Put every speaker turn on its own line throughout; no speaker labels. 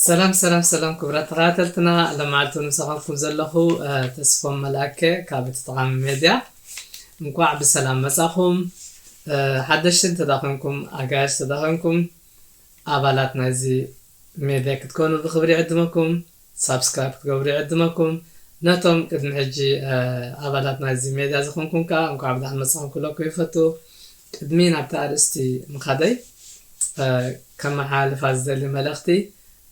ሰላም ሰላም ሰላም ክብራት ተኸታተልትና ለማዓልቱ ንሰኻልኩም ዘለኹ ተስፎም መልኣከ ካብ እቲ ጠቓሚ ሜድያ እንኳዕ ብሰላም መጻኹም ሓደሽቲ እንተዳኾንኩም ኣጋያሽ ተዳኾንኩም ኣባላት ናይዚ ሜድያ ክትኮኑ ብክብሪ ዕድመኩም ሳብስክራይብ ክትገብሩ ይዕድመኩም ነቶም ቅድሚ ሕጂ ኣባላት ናይዚ ሜድያ ዝኮንኩም ከኣ እንቋዕ ብድሓን መጻኩም ክብለኩም ይፈቱ ቅድሚ ናብቲ ኣርእስቲ ምካደይ ከመሓላልፋ ዝደሊ መልእክቲ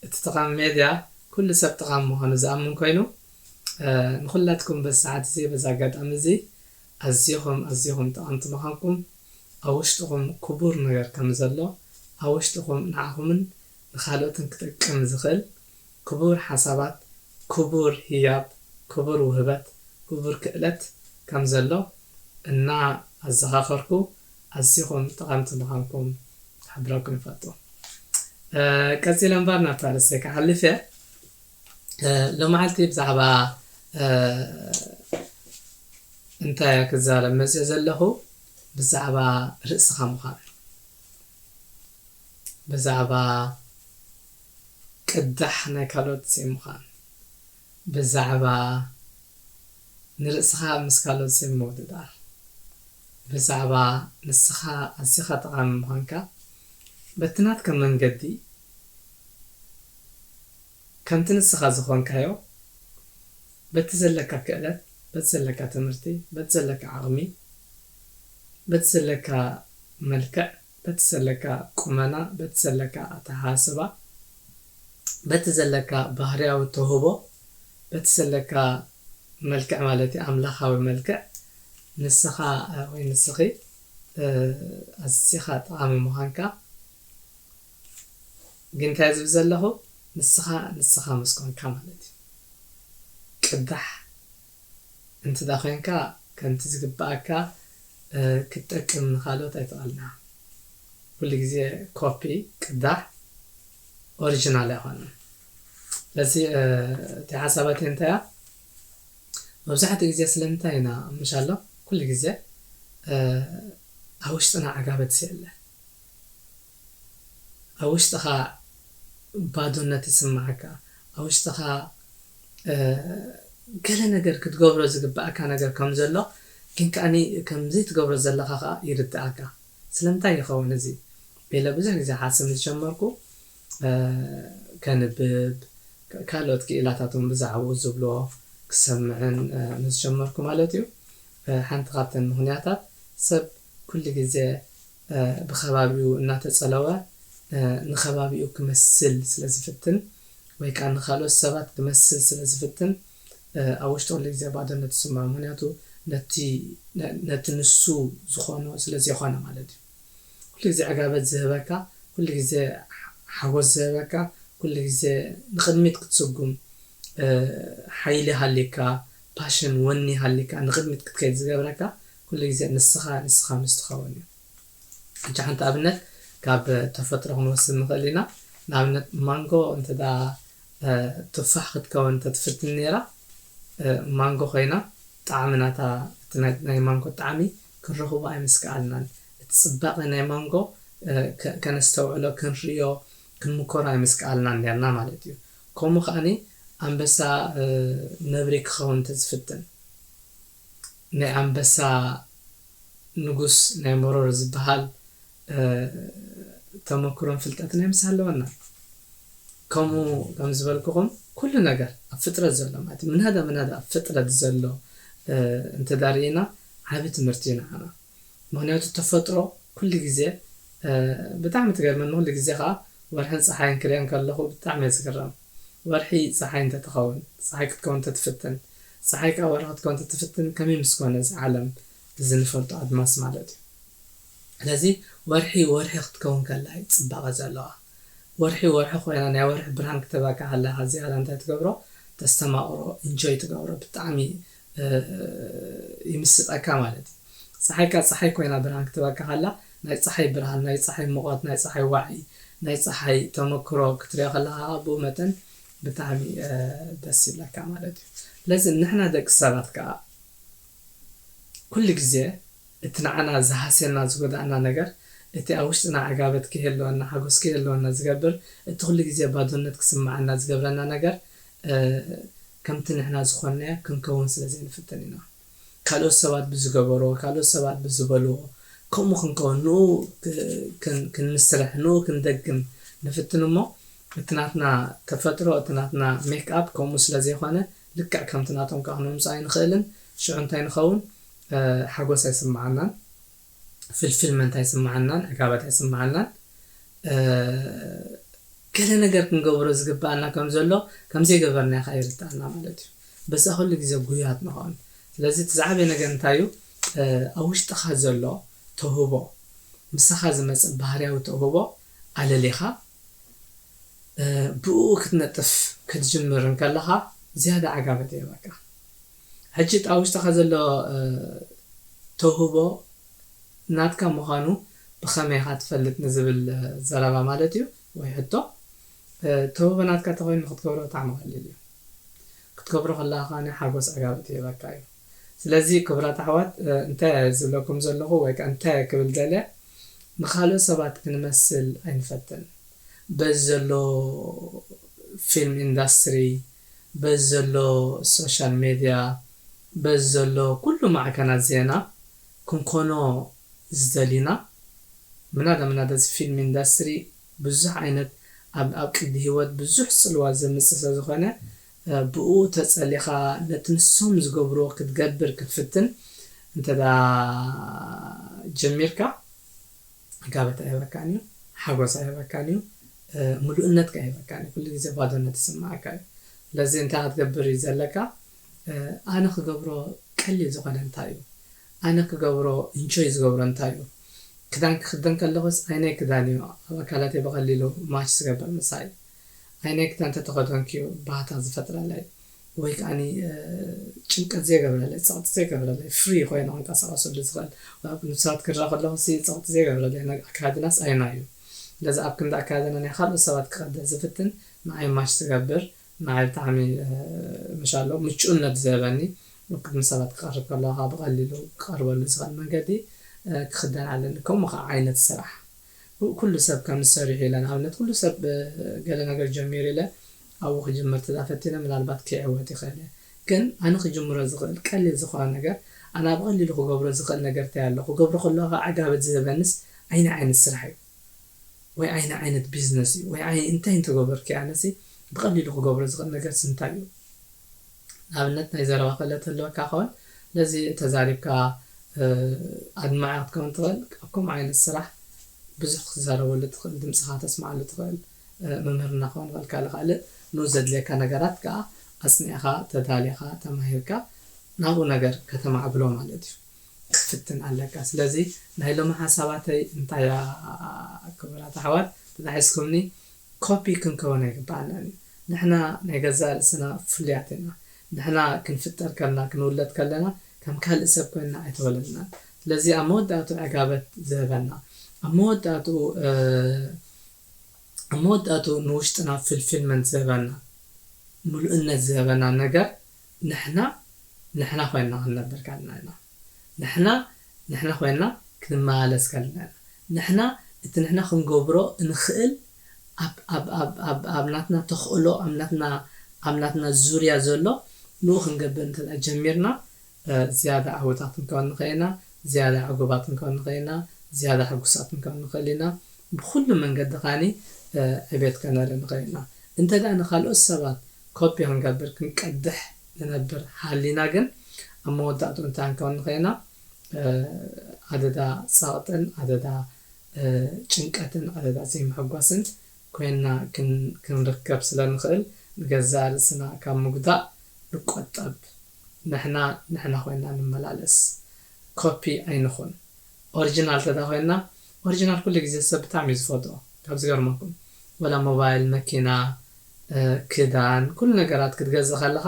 እቲ ጠቃሚ ሜድያ ኩሉ ሰብ ጠቃሚ ምኳኑ ዝኣምን ኮይኑ ንኩላትኩም በዚ ሰዓት እዚ በዚ ኣጋጣሚ እዚ ኣዚኩም ኣዚኩም ጠቀምቲ ምካንኩም ኣብ ውሽጥኩም ኩቡር ነገር ከምዘሎ ኣብ ውሽጥኩም ንዓኩምን ንካልኦትን ክጠቅም ዝክእል ክቡር ሓሳባት ክቡር ህያብ ክቡር ውህበት ክቡር ክእለት ከም ዘሎ እና ኣዘኻኸርኩ ኣዚኹም ጠቐምቲ ምዃንኩም ክሕብረኩም ይፈቱ። ቀጺለ እምበር ናብቲ ኣርእስተይ ክሓልፍ እየ። ሎማዓልቲ ብዛዕባ እንታይ እየ ክዛረብ መጽየ ዘለኹ ብዛዕባ ርእስኻ ምዃን ብዛዕባ ቅዳሕ ናይ ካልኦት ዘይምዃን፣ ብዛዕባ ንርእስኻ ምስ ካልኦት ዘይምውድዳር፣ ብዛዕባ ንስኻ ኣዚኻ ጠቓሚ ምዃንካ በቲ ናትካ መንገዲ ከምቲ ንስኻ ዝኾንካዮ በቲ ዘለካ ክእለት በቲ ዘለካ ትምህርቲ በቲ ዘለካ ዓቕሚ በቲ ዘለካ መልክዕ በቲ ዘለካ ቁመና በቲ ዘለካ ኣተሓሳስባ በቲ ዘለካ ባህርያዊ ተውህቦ በቲ ዘለካ መልክዕ ማለት እዩ ኣምላኻዊ መልክዕ ንስኻ ወይ ንስኺ ኣዚኻ ጠቓሚ ምዃንካ ግን እንታይ ዝብል ዘለኹ ንስኻ ንስኻ ምስ ኮንካ ማለት እዩ ቅዳሕ እንተ ዄንካ፣ ከምቲ ዚግብኣካ ክትጠቅም ንኻልኦት ኣይተቓልናን። ኵሉ ግዜ ኮፒ፣ ቅዳሕ፣ ኦሪጅናል ኣይኰነን። ስለዚ እታ ሓሳባተይ እንታይ እያ፣ መብዛሕትኡ ግዜ ስለምንታይ ኢና ምሻሎ ኵሉ ግዜ ኣብ ውሽጥና ዕጋበት ዘየለ? ኣብ ውሽጥኻ ባዶነት ይስምዓካ፣ ኣብ ውሽጥኻ ገለ ነገር ክትገብሮ ዝግብኣካ ነገር ከም ዘሎ ግን ከኣ ከም ዘይትገብሮ ዘለኻ ከኣ ይርድኣካ። ስለምንታይ ይኸውን እዚ? ኢለ ብዙሕ ግዜ ክሓስብ ምስ ጀመርኩ ከንብብ ካልኦት ክኢላታት እውን ብዛዕባኡ ዝብልዎ ክሰምዕን ምስ ጀመርኩ ማለት እዩ። ሓንቲ ካብተን ምኽንያታት ሰብ ኩሉ ግዜ ብኸባቢኡ እናተጸለወ ንኸባቢኡ ክመስል ስለ ዝፍትን ወይ ከኣ ንኻልኦት ሰባት ክመስል ስለ ዝፍትን ኣብ ውሽጡ ኩሉ ግዜ ባዶነት ይስምዖ ምኽንያቱ ነቲ ነቲ ንሱ ዝኾኖ ስለ ዘይኮነ ማለት እዩ ኩሉ ግዜ ዕጋበት ዝህበካ ኩሉ ግዜ ሓጎስ ዝህበካ ኩሉ ግዜ ንቕድሚት ክትስጉም ሓይሊ ሃልዩካ ፓሽን ወኒ ሃልዩካ ንቕድሚት ክትከይድ ዝገብረካ ኩሉ ግዜ ንስኻ ንስኻ ምስ ትኸውን እዩ። ሕጂ ሓንቲ ኣብነት ካብ ተፈጥሮ ክንወስድ ንኽእል ኢና። ንኣብነት ማንጎ እንተ ቱፋሕ ክትከውን እንተ ትፍትን ነይራ ማንጎ ኮይና ጣዕሚ ናታ እቲ ናይ ማንጎ ጣዕሚ ክንረኽቦ ኣይምስከኣልናን። እቲ ጽባቐ ናይ ማንጎ ከነስተውዕሎ ክንርእዮ ክንምኮሮ ኣይምስከኣልናን ኔርና ማለት እዩ። ከምኡ ከኣ ኣንበሳ ነብሪ ክኸውን እንተ ዝፍትን። ናይ ኣንበሳ ንጉስ ናይ መሮር ዝብሃል ተመክሮን ፍልጠት ናይ ምስ ኣለወና ከምኡ ከም ዝበልኩኹም ኩሉ ነገር ኣብ ፍጥረት ዘሎ ማለት ምናዳ ምናዳ ኣብ ፍጥረት ዘሎ እንተዳርኢና ዓቢ ትምህርቲ እዩ ንዓና ምክንያቱ ተፈጥሮ ኩሉ ግዜ ብጣዕሚ ትገርመኒ ኩሉ ግዜ ከኣ ወርሕን ጸሓይን ክሪኤን ከለኹ ብጣዕሚ እየ ዝግረም። ወርሒ ጸሓይ እንተ ትኸውን ጸሓይ ክትከውን እንተ ትፍትን ጸሓይ ከኣ ወርሒ ክትከውን እንተ ትፍትን ከመይ ምስ ኮነ እዚ ዓለም እዚ ንፈልጦ ኣድማስ ማለት እዩ ስለዚ ወርሒ ወርሒ ክትከውን ከላ እዩ ጽባቐ ዘለዋ ወርሒ ወርሒ ኮይና ናይ ወርሒ ብርሃን ክተበካ ከላ እዚኣ እንታይ ትገብሮ ተስተማቕሮ ኢንጆይ ትገብሮ ብጣዕሚ ይምስጠካ ማለት እዩ። ጸሓይካ ጸሓይ ኮይና ብርሃን ክትህበካ ከላ፣ ናይ ጸሓይ ብርሃን፣ ናይ ጸሓይ ሙቐት፣ ናይ ጸሓይ ዋዒ፣ ናይ ጸሓይ ተመክሮ ክትሪኦ ከለኻ ከኣ ብኡ መጠን ብጣዕሚ ደስ ይብለካ ማለት እዩ። ስለዚ ንሕና ደቂ ሰባት ከኣ ኩሉ ግዜ እቲ ንዓና ዝሃስየና ዝጎድኣና ነገር፣ እቲ ኣብ ውሽጥና ዕጋበት ከይህልወና፣ ሓጎስ ከይህልወና ዝገብር፣ እቲ ኩሉ ግዜ ባዶነት ክስምዓና ዝገብረና ነገር፣ ከምቲ ንሕና ዝኾንናዮ ክንከውን ስለ ዘይንፍትን ኢና። ካልኦት ሰባት ብዝገበርዎ፣ ካልኦት ሰባት ብዝበልዎ ከምኡ ክንከውን፣ ንኡ ክንምስርሕ፣ ንኡ ክንደግም ንፍትን እሞ እቲ ናትና ተፈጥሮ፣ እቲ ናትና ሜክኣፕ ከምኡ ስለ ዘይኮነ ልክዕ ከምቲ ናቶም ከኣ ክነምጽኦ ኣይንኽእልን። ሽዑ እንታይ ንኸውን? ሓጎስ ኣይስምዓናን። ፍልፍል መንት ኣይስመዓናን ዕጋበት ኣይስመዓናን ገለ ነገር ክንገብሮ ዝግበኣና ከም ዘሎ ከም ዘይገበርናዮ ከኣ ይርተኣና ማለት እዩ በዛ ኩሉ ግዜ ጉያት ንኸውን ስለዚ እቲ ዝዓበየ ነገር እንታይ እዩ ኣብ ውሽጥኻ ዘሎ ተውህቦ ምሳኻ ዝመጽእ ባህርያዊ ተውህቦ ኣለሊኻ ብእኡ ክትነጥፍ ክትጅምር እንከለኻ ዝያዳ ዓጋመት ይህበካ። ሕጂ እቲ ኣብ ውሽጥኻ ዘሎ ተውህቦ ናትካ ምዃኑ ብኸመይ ኢኻ ትፈልጥ ንዝብል ዘረባ ማለት እዩ ወይ ሕቶ፣ ተውህቦ ናትካ ተኾይኑ ክትገብሮ ብጣዕሚ ቀሊል እዩ። ክትገብሮ ከለኻ ከኣ ሓጎስ ዓጋመት ይህበካ እዩ። ስለዚ ክቡራት ኣሕዋት እንተ ዝብለኩም ዘለኹ ወይ ከኣ እንተ ክብል ደልየ ንኻልኦት ሰባት ክንመስል ኣይንፈትን በዚ ዘሎ ፊልም ኢንዳስትሪ በዚ ዘሎ ሶሻል ሜድያ በዚ ዘሎ ኩሉ ማዕከናት ዜና ክንኮኖ ዝደሊና ምናዳ ምናዳ እዚ ፊልም ኢንዳስትሪ ብዙሕ ዓይነት ኣብ ኣብ ቅዲ ሂወት ብዙሕ ጽልዋ ዘምጽእ ስለ ዝኾነ ብእኡ ተጸሊኻ ነቲ ንሶም ዝገብርዎ ክትገብር ክትፍትን እንተ ጀሚርካ ዕጋበት ኣይህበካን እዩ፣ ሓጎስ ኣይህበካን እዩ፣ ምሉእነት ከኣ ኣይህበካን እዩ፣ ኩሉ ግዜ ባዶነት ይስምዓካ እዩ። ስለዚ እንታይ ኢኻ ክትገብር እዩ ዘለካ? ኣነ ክገብሮ ቀሊል ዝኾነ እንታይ እዩ? ኣነ ክገብሮ ኢንጆይ ዝገብሮ እንታይ እዩ? ክዳን ክኽደን ከለኹስ ኣየናይ ክዳን እዩ ኣብ ኣካላተይ ብቐሊሉ ማች ዝገብር ምሳይ? ኣይነግዳ እንተተኸደንክዮ ባህታ ዝፈጥረለይ ወይ ከኣኒ ጭንቀት ዘይገብረለይ ጸቕጢ ዘይገብረለይ ፍሪ ኮይነ ክንቀሳቐሰሉ ዝኽእል ወይ ኣብ ቅድሚ ሰባት ክረኣ ከለኹሲ ጸቕጢ ዘይገብረለይ ናይ ኣከዳድናስ ኣየናይ እዩ? ስለዚ ኣብ ክንዲ ኣከዳድና ናይ ካልኦት ሰባት ክቐድሕ ዝፍትን ንዓይ ማች ዝገብር ንዓይ ብጣዕሚ ምሻሎ ምቹእነት ዝህበኒ ኣብ ቅድሚ ሰባት ክቐርብ ከለኹ ከኣ ብቐሊሉ ክቐርበሉ ዝኽእል መንገዲ ክኽደን ኣለኒ ከምኡ ከኣ ዓይነት ስራሕ ኩሉ ሰብ ከምዚ ሰሪሑ ኢለ ንኣብነት ኩሉ ሰብ ብ ገለ ነገር ጀሚሩ ኢለ ኣብኡ ክጅምር ተዘኣ ፈቲነ ምናልባት ከይዕወት ይኽእል እየ ግን ኣነ ክጅምሮ ዝኽእል ቀሊል ዝኾነ ነገር ኣነ ብ ቐሊሉ ክገብሮ ዝኽእል ነገር ታይ ኣሎ ክገብሮ ከለኹ ከኣ ዕጋበት ዝህበንስ ኣይናይ ዓይነት ስራሕ እዩ ወይ ኣይናይ ዓይነት ቢዝነስ እዩ ወይ ኣይ እንታይ እንተገበርኩ ኣነሲ ብቐሊሉ ክገብሮ ዝኽእል ነገርስ እንታይ እዩ ንኣብነት ናይ ዘረባ ክእለት ህልወካ ክኸውን ስለዚ ተዛሪብካ ኣድማዒ ክትከውን ትኽእል ኣብ ከምኡ ዓይነት ስራሕ ብዙሕ ክትዛረበሉ ትኽእል ድምጽኻ ክተስምዓሉ ትኽእል ምምህርና ክኸውን ይኽእል ካልእ ካልእ ን ዘድልየካ ነገራት ከኣ ኣጽኒዕኻ ተዳሊኻ ተማሂርካ ናብኡ ነገር ከተማዕብሎ ማለት እዩ ክትፍትን ኣለካ ስለዚ ናይ ሎሚ ሓሳባተይ እንታይ እያ ክቡራት ኣሕዋት ተታሒዝኩምኒ ኮፒ ክንከውን ኣይግብኣናን እዩ ንሕና ናይ ገዛእ ርእስና ፍሉያት ኢና ንሕና ክንፍጠር ከልና ክንውለድ ከለና ከም ካልእ ሰብ ኮይንና ኣይተወለድናን ስለዚ ኣብ መወዳእትኡ ዕጋበት ዝህበና ኣብ መወዳእትኡ ኣብ መወዳእትኡ ንውሽጥና ፍልፊልመንት ዝህበና ምሉእነት ዝህበና ነገር ንሕና ንሕና ኮይንና ክንነብር ከለና ኢና። ንሕና ንሕና ኮይንና ክንመላለስ ከለና ኢና። ንሕና እቲ ንሕና ክንገብሮ እንኽእል ኣብ ኣብ ኣብ ኣብ ኣብ ናትና ተኽእሎ ኣብ ናትና ኣብ ናትና ዙርያ ዘሎ ንኡ ክንገብር እንተድኣ ጀሚርና ዝያዳ ዓወታት ክንከውን ንኽእል ኢና። ዝያዳ ዕጉባት ክንከውን ንኽእል ኢና፣ ዝያዳ ሕጉሳት ክንከውን ንኽእል ኢና፣ ብዅሉ መንገዲ ኸኣ ዕቤት ከነርኢ ንኽእል ኢና። እንተድኣ ንኻልኦት ሰባት ኮፒ ኽንገብር፣ ክንቀድሕ ንነብር ሃሊና ግን፣ ኣብ መወዳእትኡ እንታይ ክንከውን ንኽእል ኢና? ኣደዳ ጸቕጥን ኣደዳ ጭንቀትን ኣደዳ ዘይምሕጓስን ኰይንና ክንርከብ ስለ እንኽእል፣ ንገዛእ ርእስና ካብ ምጕዳእ ንቈጠብ። ንሕና ንሕና ኮይና ንመላለስ ኮፒ ኣይንኹን ኦርጅናል ተዳ ኮይና ኦርጅናል ኩሉ ግዜ ሰብ ብጣዕሚ እዩ ዝፈትዎ ካብ ዝገርመኩም ወላ ሞባይል መኪና ክዳን ኩሉ ነገራት ክትገዝእ ከለኻ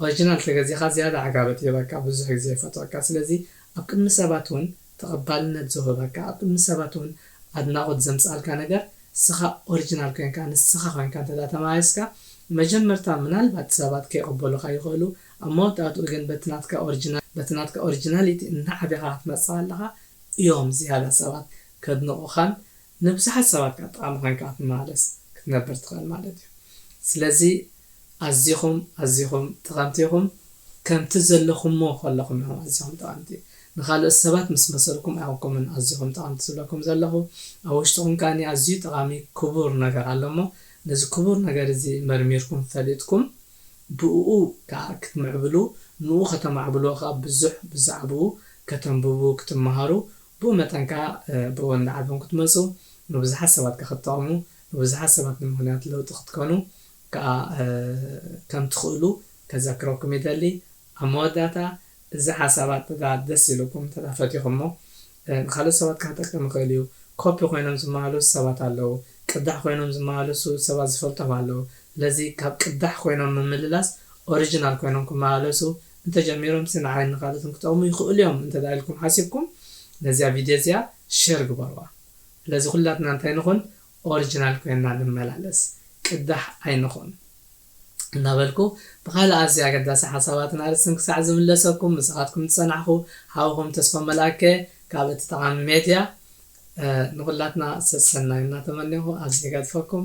ኦርጅናል ተገዚኻ ዝያዳ ዕጋበት ይህበካ ብዙሕ ግዜ ይፈትወካ ስለዚ ኣብ ቅድሚ ሰባት ውን ተቀባልነት ዝወህበካ ኣብ ቅድሚ ሰባት ውን ኣድናቆት ዘምጽኣልካ ነገር እስኻ ኦርጅናል ኮንካ ንስኻ ኮንካ እንተ ተማሪጽካ መጀመርታ ምናልባት ሰባት ከይቅበሉኻ ይኽእሉ ኣብ መወዳእትኡ ግን በቲ ናትካ ኦርጅናል በቲ ናትካ ኦርጅናሊቲ እናዓበኻ ክትመጽእ ከለኻ እዮም ዝያዳ ሰባት ከድንቁኻን ንብዙሕ ሓሳባትካ ጠቓሚ ኮይንካ ክትመላለስ ክትነብር ትኽእል ማለት እዩ። ስለዚ ኣዚኹም ኣዚኹም ጠቐምቲ ኢኹም ከምቲ ዘለኹሞ ከለኹም ኢኹም ኣዚኹም ጠቐምቲ። ንኻልኦት ሰባት ምስ መሰልኩም ኣይኮንኩምን ኣዚኹም ጠቐምቲ ዝብለኩም ዘለኹ። ኣብ ውሽጥኹም ከኣ ኣዝዩ ጠቓሚ ክቡር ነገር ኣሎ እሞ ነዚ ክቡር ነገር እዚ መርሚርኩም ፈሊጥኩም ብእኡ ከኣ ክትምዕብሉ ንኡ ከተማዕብልዎ ከኣ ብዙሕ ብዛዕብኡ ከተንብቡ ክትመሃሩ ብኡ መጠን ከኣ ብኡ እንዳዓበን ክትመጹ ንብዙሓት ሰባት ከኣ ክትጠቕሙ ንብዙሓት ሰባት ድማ ምኽንያት ለውጢ ክትኮኑ ከኣ ከም ትኽእሉ ከዘክረኩም ይደሊ። ኣብ መወዳእታ እዚ ሓሳብ ኣተዳ ደስ ኢሉኩም እንተዳ ፈቲኹሞ ንኻልኦት ሰባት ከሕጠቅም ይኽእል እዩ። ኮፒ ኮይኖም ዝመላለሱ ሰባት ኣለዉ። ቅዳሕ ኮይኖም ዝመላለሱ ሰባት ዝፈልጦም ኣለዉ። ስለዚ ካብ ቅዳሕ ኮይኖም ምምልላስ ኦሪጅናል ኮይኖም ክመላለሱ እንተጀሚሮምሲ ንዓይን ንኻልኦትን ክጠቕሙ ይኽእሉ እዮም እንተድኣ ኢልኩም ሓሲብኩም ነዚኣ ቪድዮ እዚኣ ሸር ግበሩዋ። ስለዚ ኩላትና እንታይ ንኹን ኦርጅናል ኮይንና ንመላለስ ቅዳሕ ኣይንኹን። እናበልኩ ብኻልእ ኣዝዩ ኣገዳሲ ሓሳባትን ኣርእስትን ክሳዕ ዝምለሰኩም ምሳኻትኩም ዝጸናሕኹ ሓውኹም ተስፋ መልኣከ ካብ እቲ ጠቓሚ ሜድያ ንኹላትና ሰሰናዩ እናተመኔኹ ኣብዚ እገድፈኩም።